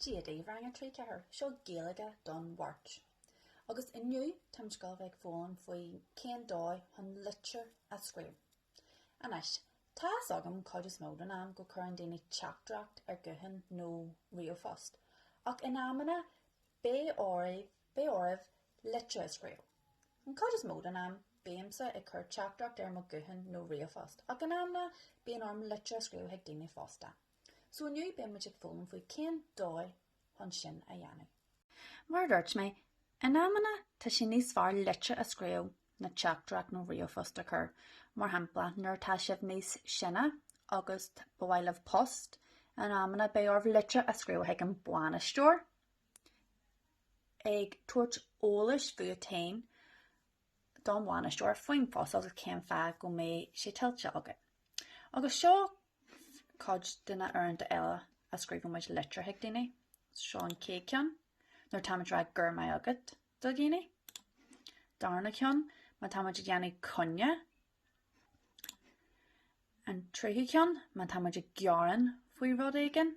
Dia daoibh rang a 3 4, seo Gaeilge don Mháirt agus inniu táimid ag dul a bheith ag foghlaim faoi cén dóigh chun litir a scríobh. Anois, tá fhios agam cuid is mó den am go cuireann daoine teachtaireacht ar guthán nó ríomhphost, ach in amanna beidh oraibh, beidh oraibh litir a scríobh. An cuid is mó den am, bímse ag cur teachtaireacht ar mo guthán nó ríomhphost, ach in amanna bíonn orm litir a scríobh chuig daoine fosta. So inniu beidh muid ag foghlaim faoi cén dóigh chun sin a dhéanamh. Mar a dúirt mé, in amanna tá sé níos fearr litir a scríobh ná teachtaireacht nó ríomhphost a chur. Mar shampla, nuair atá sibh níos sine agus ba mhaith libh post, in amanna beidh oraibh litir a scríobh chuig an bainisteoir ag tabhairt eolais fút féin don bhainisteoir faoin phost agus cén fáth go mbeidh sé tuillte agat. Agus seo cuid de na uaireanta eile a scríobhann muid litir chuig daoine, seo an chéad ceann, nuair táimid ag rá 'Go raibh maith agat' do dhaoine. Darna ceann, má táimid ag déanamh coinne. An tríú ceann, má táimid ag gearán faoi rud éigin.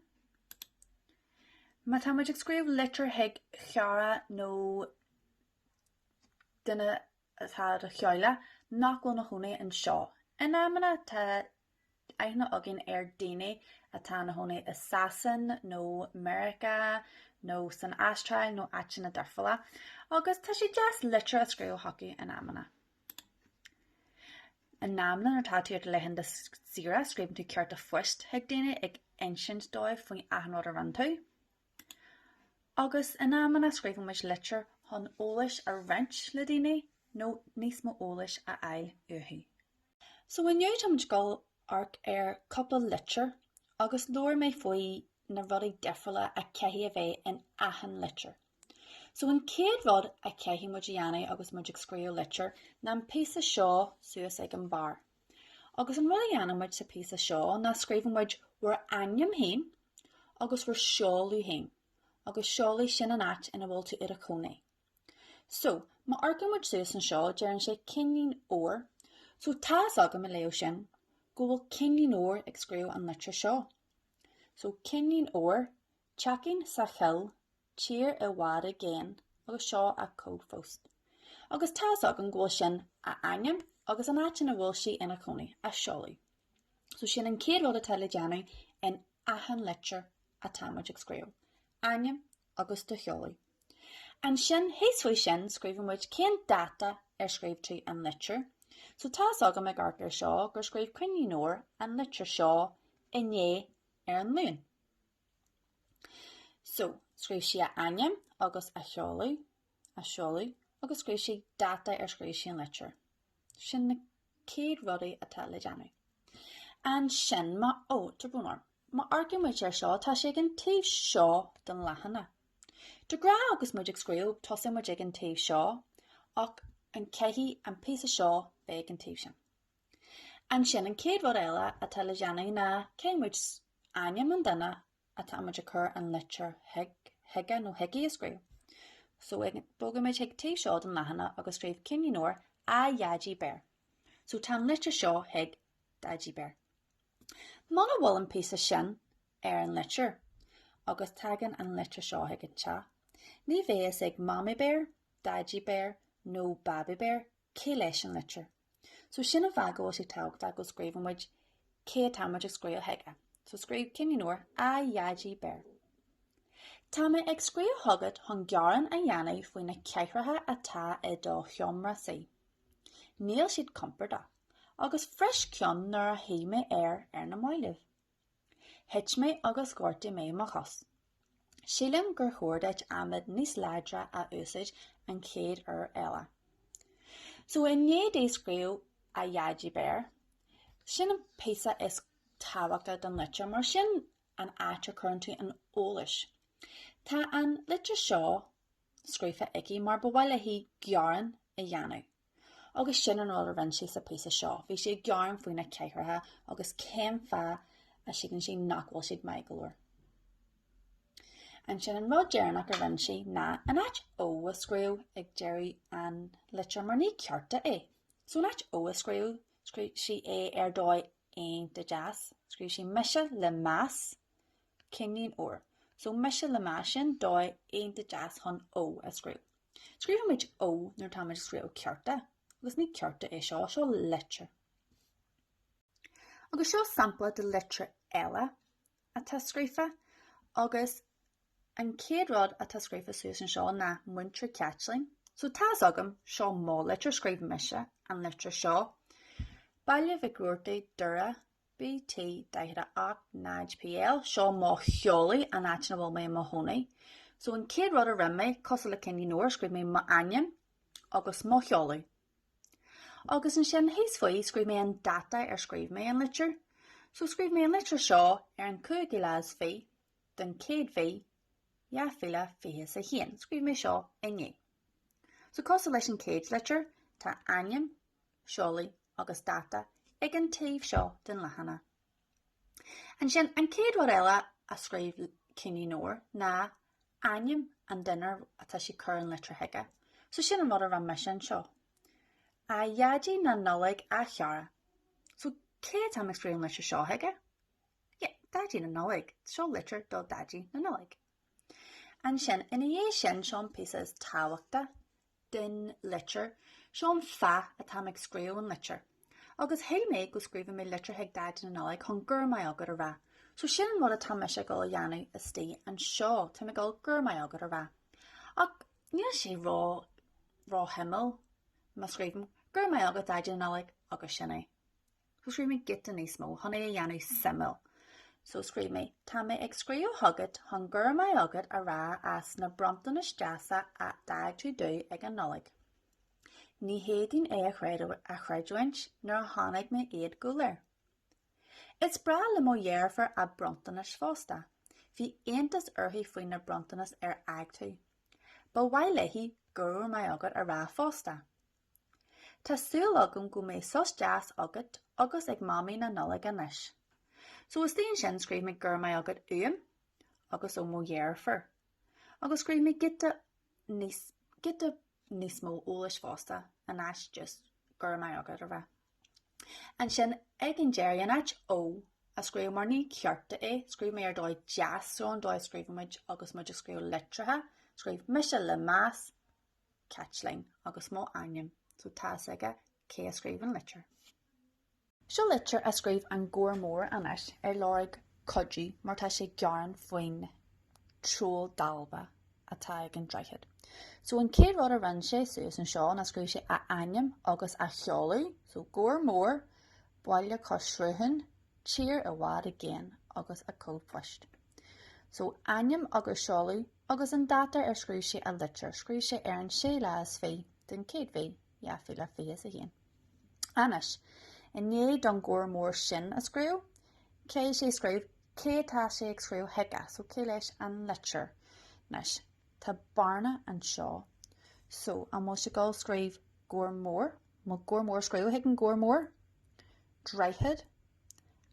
Má táimid ag scríobh litir chuig chara nó duine atá i do theaghlach nach bhfuil ina chónaí anseo. In amanna, tá aithne againn ar dhaoine atá ina chónaí i Sasain nó Meiriceá nó san Astráil nó áiteanna difriúla, agus tá sé deas litir a scríobh chucu in amanna. In amanna nuair atá tú ar do laethanta saoire scríobhann tú cárta phoist chuig daoine ag insint dóibh faoi achan rud a rinne tú. Agus in amanna scríobhann muid litir chun eolais a roinnt le daoine nó níos mó eolais a fháil uathu. So inniu táimid ag dul a amharc ar chúpla litir agus labhair mé faoi na rudaí difriúla a chaithfidh a bheith in achan litir. So an chéad rud a chaithfidh muid a dhéanamh agus muid ag scríobh litir ná an píosa seo suas ag an barr. Agus an rud a dhéanann muid sa phíosa seo ná scríobhann muid bhur ainm féin agus bhur seoladh féin, agus seoladh, sin an áit ina bhfuil tú i do chónaí. So, má amharcann muid suas anseo, deireann sé Cinnín Óir, so tá's agam i leo sin go bhfuil Cinnín Óir ag scríobh an litir seo. So, Cinnín Óir, teachín sa choill tír i bhfad i gcéin agus seo an cód phoist. Agus tá's agam go bhfuil sin a ainm agus an áit ina bhfuil sí ina cónaí, a seoladh. So sin an chéad rud atá le déanamh in achan litir atá muid ag scríobh, ainm agus do sheoladh. Ansin, thíos faoi sin, scríobhann muid cén dáta ar scríobh tú an litir. So tá's agam ag amharc ar seo gur scríobh Cinnín Óir an litir seo inné ar an Luan. So, scríobh sí a ainm agus a sheoladh, a seoladh, agus scríobh sí dáta ar scríobh sí an litir. Sin na céad rudaí atá le déanamh. Ansin má ó, tá brón orm. Má amharcann muid air seo, tá sí ag an taobh seo den leathanach. De ghnáth agus muid ag scríobh, tosaíonn muid ag an taobh seo, ach an caithfidh an píosa seo bheith ag an taobh sin. Ansin, an chéad rud eile atá le déanamh ná, caithfidh muid ainm an duine atá muid ag cur an litir chuige nó chuici a scríobh. So, bogfaimid chuig taobh seo den leathanach agus scríobh Cinnín Óir A Dhaidí Béar. So, tá an litir seo chuig Daidí Béar. Muna bhfuil an píosa sin ar an litir, agus tagann an litir seo chuig an teach, ní bheidh fhios ag Mamaí Béar, Daidí Béar nó Babaí Béar Cé leis an litir? So sin an fáth go bhfuil sé tábhachtach go scríobhann muid cé atá muid ag scríobh chuige. So scríobh Cinnín Óir A Dhaidí Béar. Tá mé ag scríobh chugat chun gearán a dhéanamh faoi na cathaoireacha atá i do sheomra suí. Níl siad compordach, agus bhris ceann nuair a shuigh mé air ar na mallaibh. Thit mé agus ghortaigh mé mo chos. Sílim gur chóir duit adhmad níos láidre a úsáid an chéad uair eile. So i ndiaidh di scríobh A Dhaidí Béar, sin an píosa is tábhachtaí den litir mar sin an áit a chuireann tú an eolais. Tá an litir seo scríofa aici mar ba mhaith léi gearán a dhéanamh. Agus sin an rud a rinne sí sa phíosa seo, bhí sí ag gearán faoi na cathaoireacha agus cén fáth a shíleann sí nach bhfuil siad maith go leor. Ansin an rud deireanach a rinne sí ná in áit Ó a scríobh ag deireadh an litir mar ní cárta é. So in áit Ó a scríobh, scríobh sí é ar dóigh iontach deas, scríobh sí mise le meas Cinnín Óir. So mise le meas sin dóigh iontach deas chun Ó a scríobh. Scríobhann muid Ó nuair atáimid ag scríobh cárta, agus ní cárta é seo, seo litir. Agus seo sampla de litir eile atá scríofa, agus an chéad rud atá scríofa suas anseo ná Múinteoir Caitlín. So tá fhios agam, seo mo litir, scríobh mise an litir seo. Baile Mhic Robhartaigh, Doire, BT 48 0 PL, Seo mo sheoladh, an áit ina bhfuil mé i mo chónaí. So an chéad rud a rinn mé, cosúil le Cinnín Óir, scríobh mé m'ainm agus mo sheoladh. Agus ansin thíos faoi scríobh mé an dáta ar scríobh mé an litir. So scríobh mé an litir seo ar an 5ú lá is fiche den chéad mhí, 2021. Scríobh mé seo inné. So cosúil leis an chéad litir, tá ainm, seoladh agus dáta ag an taobh seo den leathanach. Ansin, an chéad rud eile a scríobh Cinnín Óir ná ainm an duine ar atá sí cur an litir chuige. So sin an rud a rinne mise anseo. A Dhaidí na Nollaig a chara. So cé atá mé scríobh an litir seo chuige? Yeah, Daidí na Nollaig. Seo litir do Daidí na Nollaig. Ansin, ina dhiaidh sin, seo an píosa is tábhachta den litir, seo an fáth atá mé ag scríobh an litir. Agus shíl mé go scríobhfadh mé litir chuig Daidí na Nollag chun Go raibh maith agat a rá. So sin an rud atá mise ag dul a dhéanamh istigh anseo, táim ag dul Go raibh maith agat a rá. Ach níl sé ró, ró shuimiúil má scríobhaim Go raibh maith agat Daidí na Nollag agus sin é. So scríobh mé giota níos mó chun é a dhéanamh suimiúil. So scríobh mé, Tá mé ag scríobh chugat chun Go raibh maith agat a rá as na bronntanais deasa a d'fhág tú domh ag an Nollaig. Ní fhéadfainn é a chreidiúint nuair a chonaic mé iad go léir. Is breá le mo dheirfiúr a bronntanais fosta. Bhí iontas uirthi faoi na bronntanais ar fhág tú. Ba mhaith léi Go raibh maith agat a rá fosta. Tá súil agam go mbeidh sos deas agat agus ag Mamaí na Nollag anois. So istigh ansin scríobh mé Go raibh maith agat uaim agus ó mo dheirfiúr. Agus scríobh mé giota níos, giota níos mó eolais fosta in áit just Go raibh maith agat a rá. Ansin ag an deireadh, in áit Ó a scríobh mar ní cárta é, scríobh mé Ar dóigh deas, so an dóigh a scríobhann muid agus muid ag scríobh litreacha, scríobh mise le meas, Caitlín, agus mo ainm, so tá fhios aige cé a scríobh an litir. Seo litir a scríobh an Gabhar Mór anois ag lorg cuidiú mar tá sé gearán faoin troll dalba atá ag an droichead. So an chéad rud a rinn sé suas anseo ná scríobh sé a ainm agus a sheoladh, so Gabhar Mór, Baile Cois Sruthán, Tír i bhfad i gcéin, agus a cód poist. So ainm agus seoladh. Agus an dáta ar scríobh sé a litir, scríobh sé ar an séú lá is fiche den chéad mhí, dhá mhíle fiche is a haon. Anois, i ndiaidh don Gabhar Mór sin a scríobh, cé is é a scríobh, cé atá sé ag scríobh chuige, so cé leis an litir? Anois, tá bearna anseo. So, an bhfuil sé ag dul scríobh Gabhar Mór, an bhfuil Gabhar Mór ag scríobh chuig an Gabhar Mór? Droichead?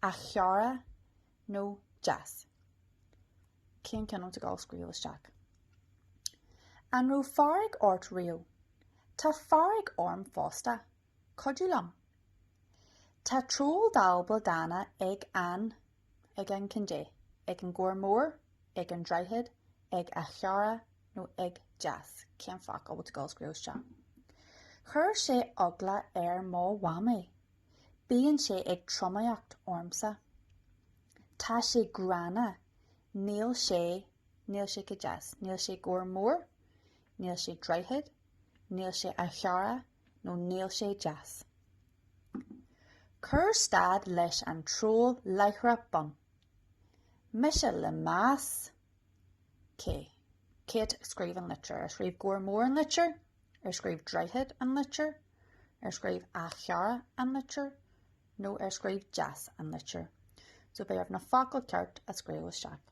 A chara? nó deas? Cén ceann a bhfuil tú ag gabháil a scríobh isteach? An raibh fearg ort riamh? Tá fearg orm fosta. Cuidiú liom. Tá troll dalba dána ag an, ag an cad é, ag an Gabhar Mór, ag an Droichead, ag A Chara nó ag deas? Cén focal a bhfuil tú ag gabháil a scríobh isteach? Chuir sé eagla ar mo mhamaí. Bíonn sé ag tromaíocht ormsa. Tá sé gránna. Níl sé, níl sé go deas. Níl sé gabhar mór. Níl sé droichead. Níl sé a chara nó níl sé deas. Cuir stad leis an troll láithreach bonn. Mise le meas. Cé, cé a scríobh an litir? Ar scríobh gabhar mór an litir? Ar scríobh Droichead an litir? Ar scríobh A Chara an litir? Nó ar scríobh Deas an litir? So b'fhearr na focail ceart a scríobh isteach.